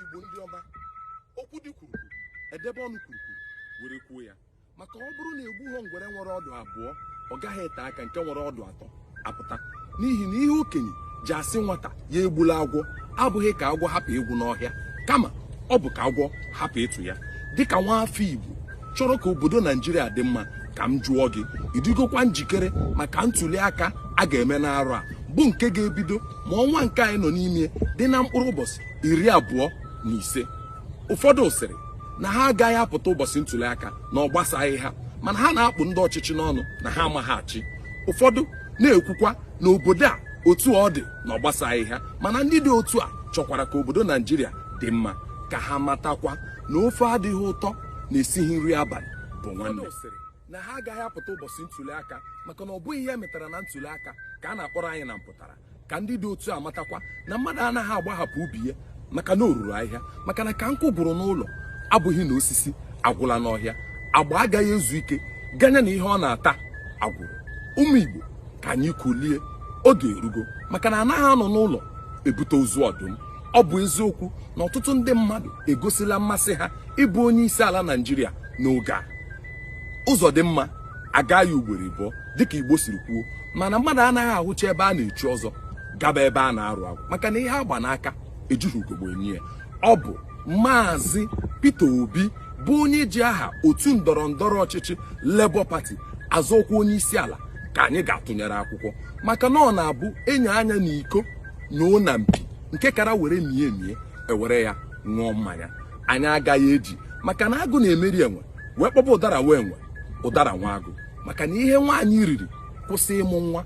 igbo ndị ọma okwu dị kwuru kwuru edebe ọnụ kwuru kwuru were kwuo ya maka ọ bụrụ na egbughọ ngwere nwere ọdụ abụọ ọ gaghị ete aka nke nwere ọdụ atọ apụta n'ihi na ihe okenye ji asị nwata ya egbula agwọ abụghị ka agwọ hapụ ịgwụ n'ọhịa kama ọ bụ ka agwọ hapụ ịtụ ya dịka nwa afọ Igbo chọrọ ka obodo Naijiria dị mma ka m jụọ gị ị dịgokwa njikere maka ntuli aka a ga-eme n'arọ a bụ nke ga-ebido ma ọnwa nke anyị nọ n'ime dị na mkpụrụ ụbọchị iri abụọ na ise ụfọdụ sịrị na ha agaghị apụta ụbọchị ntuli aka na ọ gbasaghị ha mana ha na-akpụ ndị ọchịchị n'ọnụ na ha amaghị achị ụfọdụ na-ekwukwa na obodo a otu ọ dị na ọ gbasaghị ha mana ndị dị otu a chọkwara ka obodo naijiria dị mma ka ha matakwa na ofe adịghị ụtọ na esighị nri abalị bụ nwanne sịrị na ha agaghị apụta ụbọchị ntuli aka maka na ọ bụghị ihe emetara na ntuli aka ka a na-akpọrọ anyị na mpụtara ka ndị dị otu a matakwa na mmadụ anaghị agbahapụ ubi ya maka na o ruru ahịhịa maka na ka nkụ gwụrụ n'ụlọ abụghị na osisi agwụla n'ọhịa agba agaghị ezu ike ganye na ihe ọ na-ata agwụrụ ụmụ igbo ka anyị kulie oge erugo maka na anaghị anọ n'ụlọ ebute ozu ọdụm ọ bụ eziokwu na ọtụtụ ndị mmadụ egosila mmasị ha ịbụ onye isi ala naijiria n'oge a ụzọ dị mma aga ya ugboro ịbụọ dịka igbo siri kwuo mana mmadụ anaghị ahụcha ebe a na-echi ọzọ gaba ebe a na-arụ agwụ maka na ihe agba n'aka ejighị ugogbe enyo ya ọ bụ maazị Peter Obi bụ onye ji aha otu ndọrọ ndọrọ ọchịchị Labour Party azọ ọkwa onye isi ala ka anyị ga-atụnyere akwụkwọ maka na ọ na-abụ enye anya na iko na ụna mpi nke kara were mie emie ewere ya ṅụọ mmanya anyị agaghị eji maka na agụ na-emeri enwe wee kpọba ụdara nwa enwe ụdara nwa agụ maka na ihe nwaanyị riri kwụsị ịmụ nwa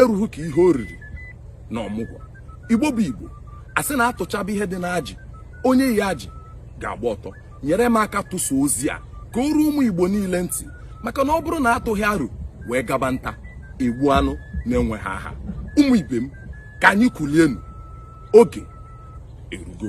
erughị ka ihe o riri na ọmụgwọ igbo bụ igbo asị na atụchaba ihe dị n'ajị onye yi ajị ga-agba ọtọ nyere m aka tụsa ozi a ka o ruo ụmụ igbo niile ntị maka na ọ bụrụ na atụghị aro wee gaba nta egbuo anụ na-enweghị aha ụmụ ibe m ka anyị kulienu oge erugo